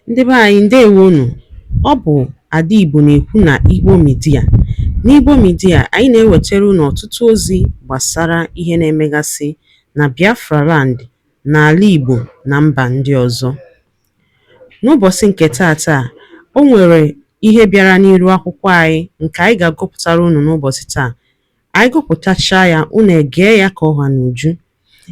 Ndị be anyị ndewo nụ. Ọ bụ Ada Igbo na-ekwu na Igbo Media. N'Igbo Media, anyị na-ewetara unu ọtụtụ ozi gbasara ihe na-emegasị na Biafra land, n'ala Igbo na mba ndị ọzọ. N'ụbọchị nke taata, o nwere ihe bịara n'iru akwụkwọ anyị nke anyị ga-agụpụtara unu n'ụbọchị taa. Anyị gụpụtachaa ya, unu egee ya ka ọ ha n'uju.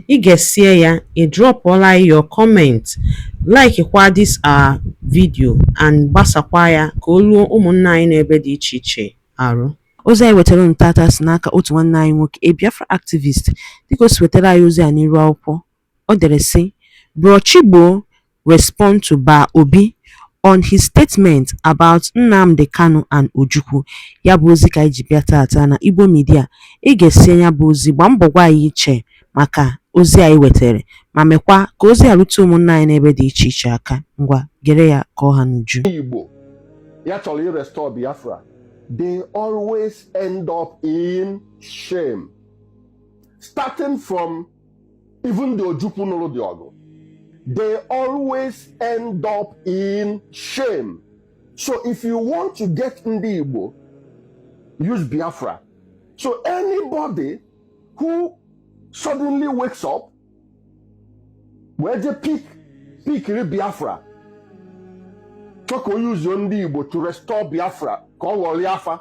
I gesie ya, ị drọpụọla anyị your comment, laikikwa this our video and gbasakwa ya ka o ruo ụmụnna anyị n'ebe dị iche iche arụ. Ozi anyị wetara unu tata si n'aka otu nwanne anyị nwoke, a Biafra activist. Dịka o si wetara anyị ozi a n'iru akwụkwọ, o dere sị, Bro Chigbo, respond to Ba Obi on his statement about Nnamdi Kanu and Ojukwu. Ya bụ ozi ka anyị ji bịa tata na Igbo Media. I gesie ya bụ ozi gbaa mbọ gwa anyị iche maka ozi anyị wetara ma mekwa ka ozi a rute ụmụnna anyị n'ebe dị iche iche aka. Ngwa gere ya ka ọ ha n'uju. Igbo ya chọrọ irestọ Biafra they always end up in shame starting from Even the Ojukwu nụrụ the ọgụ they always end up in shame so if you want to get ndị Igbo use Biafra so anybody who suddenly wakes up wee je pik pikiri Biafra chọọ ka o yuzuo ndị Igbo to restore Biafra ka ọ ghọrọ afa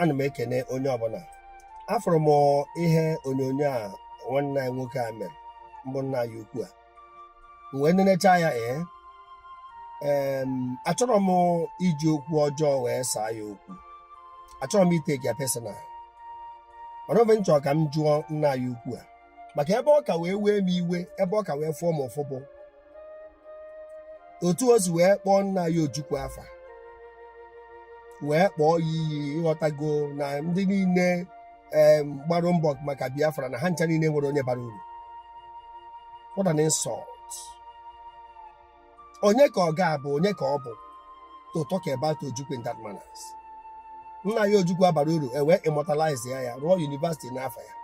ana m ekene onye ọbụla afụrụ m ihe onyonyo a nwanne anyị nwoke a mere mbụ nna anyị ukwu a m wee nenecha ya ee em, achọrọ m iji okwu ọjọọ wee saa ya okwu achọrọ m iteki ya personal mana ife m chọrọ ka m jụọ nna anyị ukwu a maka ebe ọ ka wee wee m iwe ebe ọ ka wee fụọ m ụfụ bụ otu o si wee kpọọ nna anyị ojukwu afa wee kpọọ ya iyi ịghọtago na ndị niile em, gbara mbọ maka biafra na ha ncha niile enwerọ onye bara uru what an insult onye ka ọ ga-abụ onye ka ọ bụ to talk about ojukwu in that manners nna anyị ojukwu abara uru e wee immortalize ya ya rụọ yunivasiti n'afa ya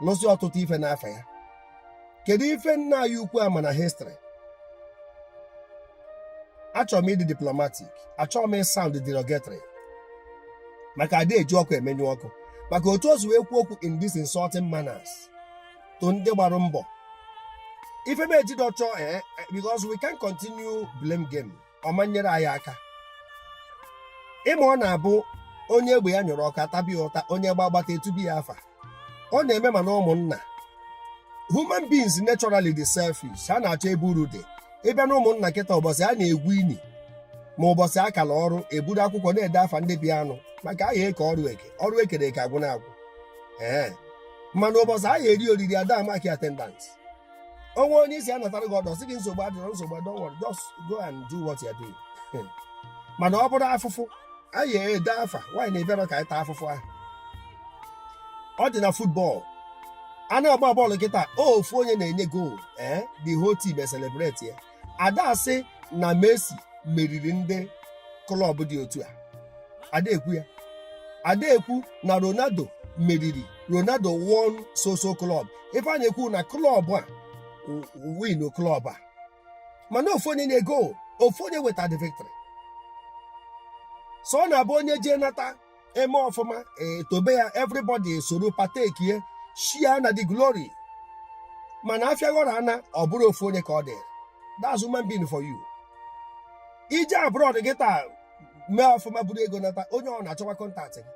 lụsị ọtụtụ ife n'afa ya kedu ife nna anyị ukwu a ma na histrị achọrọ m ịdị diplomatic achọrọ m ịsaụnd derogatory maka ada eji ọkụ emenyụ ọkụ maka otu o si wee kwuo okwu in this insulting manners to ndị gbara mbọ ife m ejide ọchọ ee eh, eh, because we can continue blame game ọ ma-enyere anyị aka ị ma ọ na-abụ onye egbe ya nyụrụ ọkụ a tabe ya ụta onye gbaa agbata etube ya afa ọ na-eme mana ụmụnna human beings naturally dị selfish ha na-achọ ebe uru dị ị bịa na ụmụnna kịta ụbọchị a na-egwu ini ma ụbọchị a kalụ ọrụ eburu akwụkwọ na-ede afa ndị bịanụ maka a ya-eke ọrụ eke ọrụ ekere eke agwụ na agwụ ee mana ụbọchị a ya-eri oriri ada amaki attendance o nwee onye ị sị ya natara gị ọdọ sị gị nsogbu adịrọ nsogbu adịrọ don't worry just go and do what you are doing Hmm. mana ọ bụrụ afụfụ a ya-ede afa onye na-abịarọ ka anyị taa afụfụ ahụ ọ dị na football a na-agba bọọlụ kịta ofu onye na-enye goolu ee the whole team e celebrate ya ada asị na Messi meriri ndị klọb dị otu a ada ekwu ya ada ekwu na Ronaldo meriri Ronaldo won so so klọb ife a na-ekwu na klọb a win klọb a mana ofu onye nye goolu ofu onye weta the victory so ọ na-abụ onye jee nata eme ọfụma etobe ya everybody esoro partake ya share in the glory mana afịa ghọrọ ana ọ bụrụ ofu onye ka ọ dị that's human being for you ị jee abroad kịta mee ọfụma buru ego nata onye ọbụna achọwa kọntaktị gị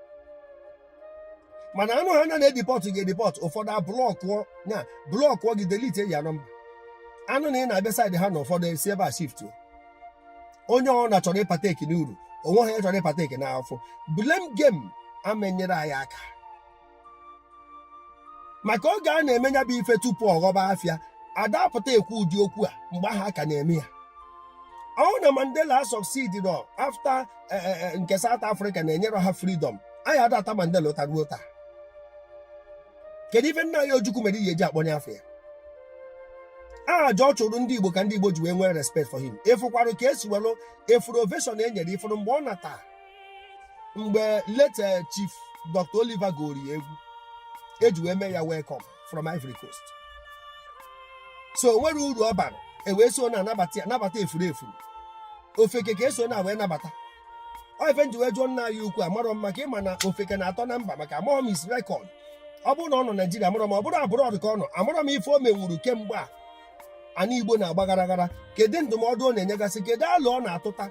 mana a nụhaa na a na-edipọtụ gị edipọtụ ụfọdụ ablọkụọ ya blọkụọ gị delete your number a nụ na ị na-abịa saịdị ha na ụfọdụ esi ebe a shift onye ọbụna chọrọ ịpateki n'uru o nwehọ onye chọrọ ịpateki n'afụfụ blame game ama enyere anyị aka maka oge a na-eme ya bụ ife tupu ọ ghọba afịa ada apụta ekwu ụdị okwu a mgbe ahụ a ka na-eme ya ọ bụ na mandela succeedrọ after nke south africa na-enyerọ ha freedom anyị ada ata mandela ụta ruo taa kedu ife nna anyị ojukwu mere ị ya-eji akpọnye afa ya aja ọ chụrụ ndị igbo ka ndị igbo ji wee nwee respect for him ị fụkwarụ ka esi welụ ị fụrụ ovation e nyere ị fụrụ mgbe ọ nata mgbe late eh, chief dr oliver gụrụ ya egwu eji wee mee ya welcome from ivory coast so o nwere uru ọ bara ewee so na-anabata ya nabata efuru efu ofeke ka eso na wee nabata ọ ife m ji wee jụọ nna anyị ukwu amarọ m maka ị ma na ofeke na-atọ na mba maka amarọ m his record ọ bụrụ na ọ nọ naijiria amarọ m ọ bụrụ abroad ka ọ nọ amarọ m ife o menwuru kemgbe a ana igbo na-agba ghara ghara kedu ndụmọdụ ọ na-enyegasị kedu alo ọ na-atụta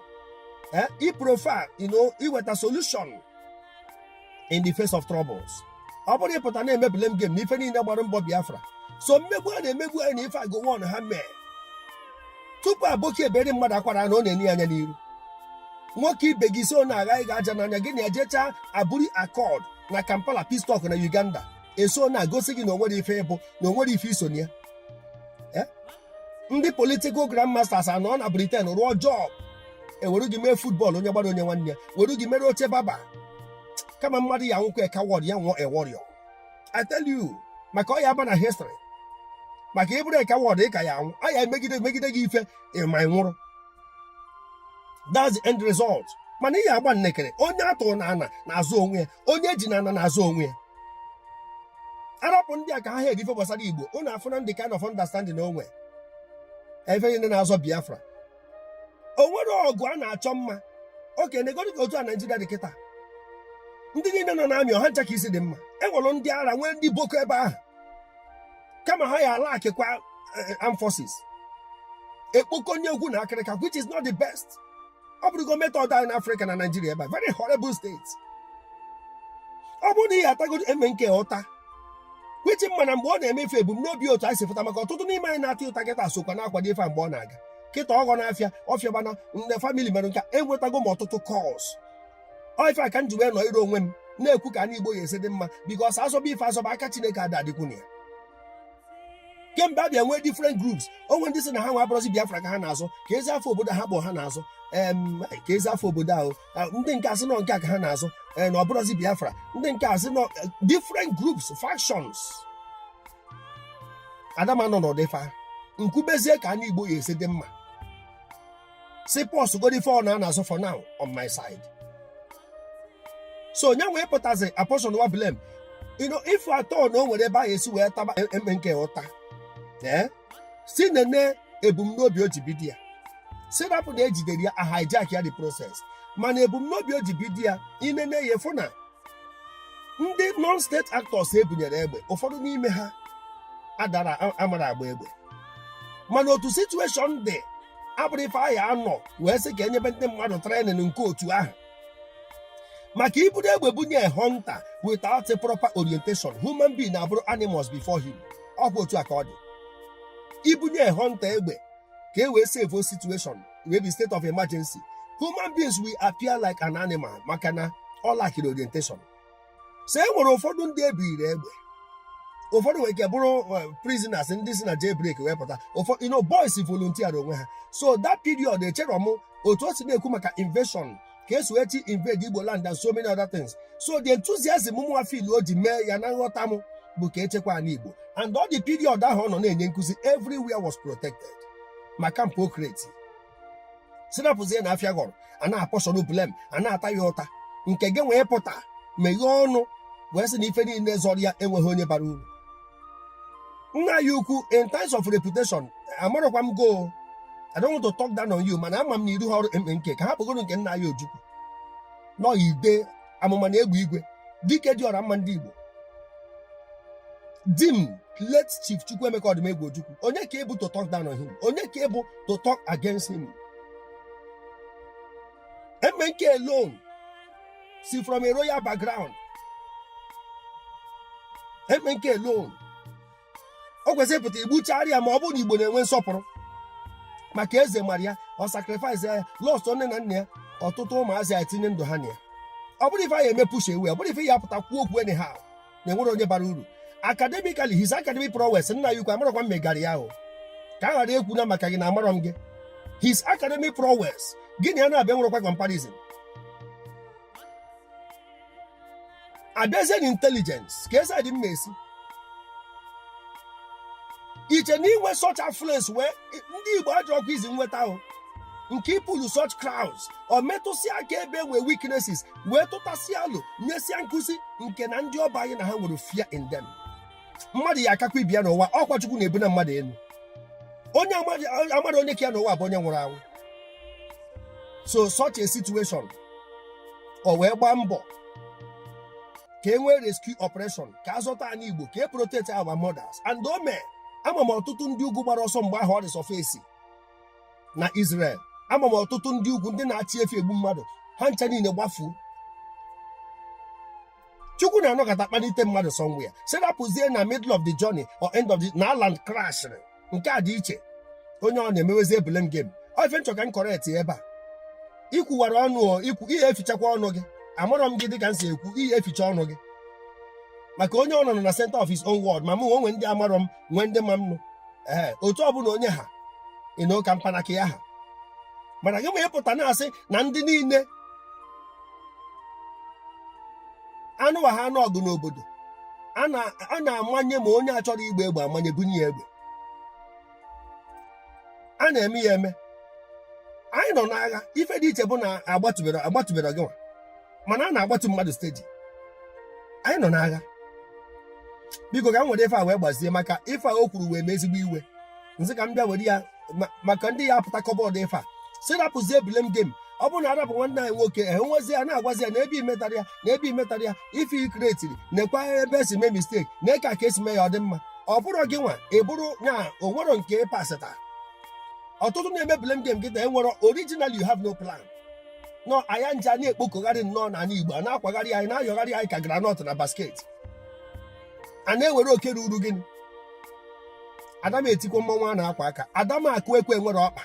ee ị proffer you know iweta solution in the face of troubles ọ bụrụ ị pụta na-emebile m game na ife niile gbara mbọ biafra so mmegbu a na-emegbu anyị na ife a Gowon ha mere tupu aboki ebere mmadụ akwara na ọ na-ene ya anya n'iru nwoke ibe gị so na agha gị aja n'anya gị na ejecha Aburi Accord na kampala peace talk na uganda eso na-agosi gị na o nwere ife ị bụ na o nwere ife i so na ya ndị political grandmasters anọ na Britain rụọ job e were gị mee football onye gbara o nye nwanne ya were gị mere oche barber kama mmadụ ya anwụkwa a coward ya nwụọ a warrior I tell you maka ọ ya aba na history maka ị bụrụ a coward ị ka ya anwụ a ya emegide megide gị ife ịma ị nwụrụ that's the end result mana ihe agba nnekere onye a tụrụ n'ana na-azọ onwe ya onye e ji n'ana na-azọ onwe ya a rapụ ndị a ka ha hedi ife gbasara igbo unu afụ na ndị kind of understanding onwe ebe niile na-azọ biafra o nwere ọgụ a na-achọ mma okay negodi ka otu a naijiria dị kịta ndị niile nọ n'army ọ ha ncha ka isi dị mma enwere ndị ara nwee ndị boko ebe ahụ kama ha ya alackịkwa eh, armed forces ekpokonye egwu na akịrịka which is not the best ọ bụrụgo method anyị n'afrịka na naijiria ebe a very horrible state ọ bụrụ na ihe atago MNK ụta which ị ma na mgbe ọ na-eme ife ebumnobi otu anyị si fụta maka ọtụtụ n'ime anyị na-ata ya ụta kịta sokwa na-akwado ife a mgbe ọ na-aga kịta ọghọ n'afịa ọfịa gbana nne family mere nka enwetago m ọtụtụ calls ọ ife a ka m ji wee nọrọ onwe m na-ekwu ka ndị igbo ya esi dị mma because a zọba ife a zọba aka chineke ada adịkwu na ya kemgbe a bịa nwee different groups onwe ndị sị na ha nwa abụrọzi biafra ka ha na-azọ kezi afa obodo ha kpọ ha na-azọ em kezi afa obodo ahụ ah, ndị nke asị na ọ nke a ka ha na-azọ eh, na ọ bụrọzi biafra ndị nke asị na ọ eh, different groups factions ada m anọ n'ụdị ife a m kwubezie ka anyị igbo ya esi dị mma sị pause godi ife a na-azọ for now on my side so onye wee pụtazi apportionwa blame you know if at all na o nwere ebe a ga-esi wee taba MNK ụta ee sị nene ebumnobi o ji bido ya sị rapụ na e jidere ya a hijack ya the process mana ebumnobi o ji bido ya ị nene ya fụ na ndị non-state actors e bunyere egbe ụfọdụ n'ime ha adara a- amara agba egbe mana otu situation dị abụrụ ife a ya anọ wee sị ka e nyebe ndị mmadụ training nke otu ahụ maka i buru egbe bunye hunter without a proper orientation human being abụrụ animals before him ọ bụ otu a ka ọ dị i bunye hunter egbe ka e wee save situation wee be state of emergency human beings will appear like an animal maka na ọ lackiri orientation so e nwere ụfọdụ ndị ebiri egbe ụfọdụ nwere ike bụrụ eh, prisoners ndị si na jailbreak wee pụta ụfọdụ you know boys volunteer onwe ha so that period echere m otu o si na-ekwu maka invasion ka esi wee chi invade igbo land and so many other things so the enthusiasm mụnwa feel o ji mee ya na nghọta m bụ ka echekwa ala igbo and all the period ahụ ọ nọ na-enye nkụzi everywhere was protected ma kampụ okreti sinapụzie na afịa ghọrọ a na-apportion blame a na-ata ya ụta nke gị wee pụta meghee ọnụ wee sị na ife niile zọrọ ya enweghị onye bara uru nna ya ukwu in terms of reputation amarọkwa m gị o I don't want to talk down on you mana ama m na iru ha ọrụ MNK ka ha kpọgoro nke nna ya Ojukwu nọ ide amụma na egbe igwe dike dị ọra mma ndị Igbo Dim late chief Chukwuemeka Odumegwu Ojukwu onye ka ị bụ to talk down on him onye ka ị bụ to talk against him MNK alone si from a royal background MNK alone o kwesịrị pụta igbuchara ya ma ọ bụrụ na igbo na-enwe nsọpụrụ maka eze mara ya ọ sacrifice ya lost nne na nna ya ọtụtụ ụmụazị ya etinye ndụ ha na ya ọ bụrụ ife anyị eme push away ọ bụrụ ife ya pụta kwuo okwu anyhow na enwerọ onye bara uru academically his academic prowess nna ya ukwu amarọkwa m gị area ahụ ka a ghara ekwu na maka gị na amarọ m gị his academic prowess gị na ya na-abịa nwerekwa comparison abịazie na intelligence ka esi adị mma esi iche na inwe such affluence wee ndị igbo ajọ ọkụ izi nweta ahụ nke ị pull such crowds ọ metụsịa aka ebe nwee weaknesses wee tụtasịa alo nyesịa nkụzi nke na ndị ọ bụ anyị na ha nwere fear in them mmadụ ya akakwa ibe ya n'ụwa ọkwa chukwu na-ebuni mmadụ elu onye amarọ onye ka ya n'ụwa bụ onye nwụrụ anwụ so such a situation o wee gbaa mbọ ka e nwee rescue operation ka a zọta anyị igbo ka e protect our mothers and o mee ama m ọtụtụ ndị ugwu gbara ọsọ mgbe ahụ ọ resurface na Israel ama m ọtụtụ ndị ugwu ndị na-achị efi egbu mmadụ ha ncha niile gbafuo chukwu na-anọkata kpalite mmadụ somewhere si rapụzie na middle of the journey or end of the na land crash nke a dị iche onye ọ na-emewezi blame game ọ ife m chọ ka m correct ya ebe a ikwuwara ọnụ o, ikwu ihe efichakwa ọnụ gị amarọ m gị dịka m si ekwu ihe eficha ọnụ gị maka onye ọ nọ na center of his own world ma mụ onwe ndị amarọ m nwee ndị ma m nụ ee otu ọbụla onye ha ịnụ ka mpanaka ya ha mana gịnwa ịpụta na-asị na ndị niile anụwa ha anụ ọgụ n'obodo a na- a na-amanye ma onye achọrọ igba egbe amanye bunye ya egbe a na-eme ya eme anyị nọ n'agha ife dị iche bụ na agbatụberọ gị nwa mana a na-agbatu mmadụ steady anyị nọ n'agha biko ka m were ife a wee gbazie maka ife a o kwuru wee m ezigbo iwe m sị ka m bịa were ya maka ndị ya apụta kọbọọdụ ife a si rapụzie blame game ọ bụrụ na arapụ nwanne anyị nwoke e nwezi ya na-agwazi ya na ebe imetara ya na ebe imetara ya ife ikretiri nekwa ebe esi mee mistake nekwa ka esi mee ya ọ dị mma ọ bụrụ gị nwa ị bụrụ na onwero nke pasịta ọtụtụ na-eme blame game gị na enwero original you have no plan nọ anya nje a na-ekpokọgharị nnọọ n'ala Igbo a na-akwagharị anyị a na-ayọgharị anyị ka groundnut na basket a na-ewere oke ruru gịnị ada m etikwa mmanwụ a na-akwa aka ada m akụ ekwe nwere ọkpa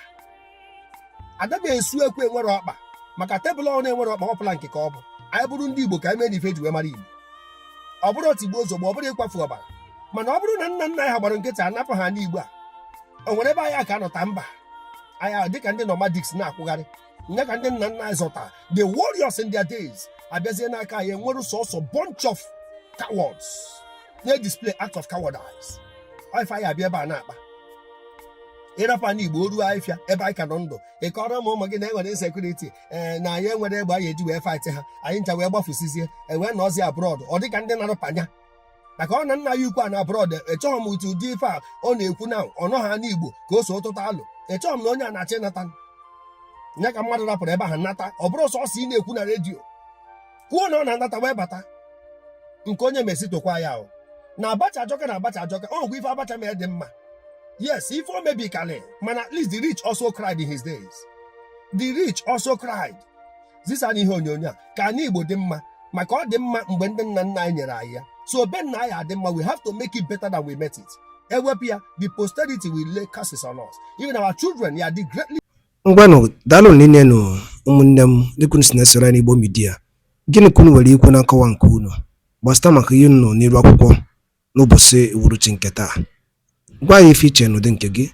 ada m esu ekwe nwere ọkpa maka tebụl ọ na-enwere ọkpa ọbụla nke ka ọ bụ anyị bụrụ ndị Igbo ka anyị mee na ife ji wee mara Igbo ọ bụrọ tigbuo zọgbuo ọ bụrọ ịkwafu ọbara mana ọ bụrụ na nna nna anyị ha gbara nkịtị anapụ ha ani Igbo a o nwere ebe anyị aka anọ taa mba anyị dịka ndị nomadics na-akwụgharị nya ka ndị nna nna anyị zọta the warriors in their days abịazie n'aka anyị enwere sọsọ bunch of cowards na-display act of cowardice ife anyị abịa ebe a na-akpa ịrapụ ani Igbo o ruo ahịfịa ebe anyị ka nọ ndụ ịkọrọ ụmụ ụmụ gị na enwere insecurity ee na anyị enwerọ egbe anyị eji wee fight ha anyị ncha wee gbafusizie ewee nọzi abroad ọ dịka ndị na-arụ Panya maka ọ na nna ya ukwu anọ abroad echeghị m otu ụdị ife a ọ na-ekwu na ọ nọ ha n'Igbo ka o so tụta alo echeghị m na onye a na-achọ ịnata ya ka mmadụ rapụrụ ebe ahụ nata ọ bụrụ sọsọ ị na-ekwu na redio kwuo na ọ na-anata wee bata nke onye mesi tokwa ya ahụ na Abacha ajọka na Abacha ajọka ọ nwekwa ife Abacha mere dị mma yes ife o mebi kalị mana at least the rich also cried in his days the rich also cried zisanụ ihe onyonyo a ka ani Igbo dị mma maka ọ dị mma mgbe ndị nna nna anyị nyere anyị ya so be nna anyị adị mma we have to make it better than we met it ewepụ ya the posterity will lay curses on us even our children ya dị greatly ngwanụ daalụ niile nụ ụmụnne m dịka unu si na-esoro anyị n'Igbo Media gịnị ka unu nwere ikwu na nkọwa nke unu gbasịta maka ihe unu nọ n'iru akwụkwọ n'ụbọchị uhuruchi nke taa gwa anyị ife i che n'ụdị nke gị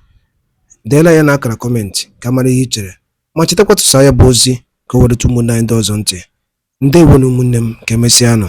deela ya n'akara comment ka mara ihe i chere ma chetakwa tụsaa ya bụ ozi ka o wee ruta ụmụnne anyị ndị ọzọ ntị. Ndewonụ ụmụnne m, ka emesịanụ.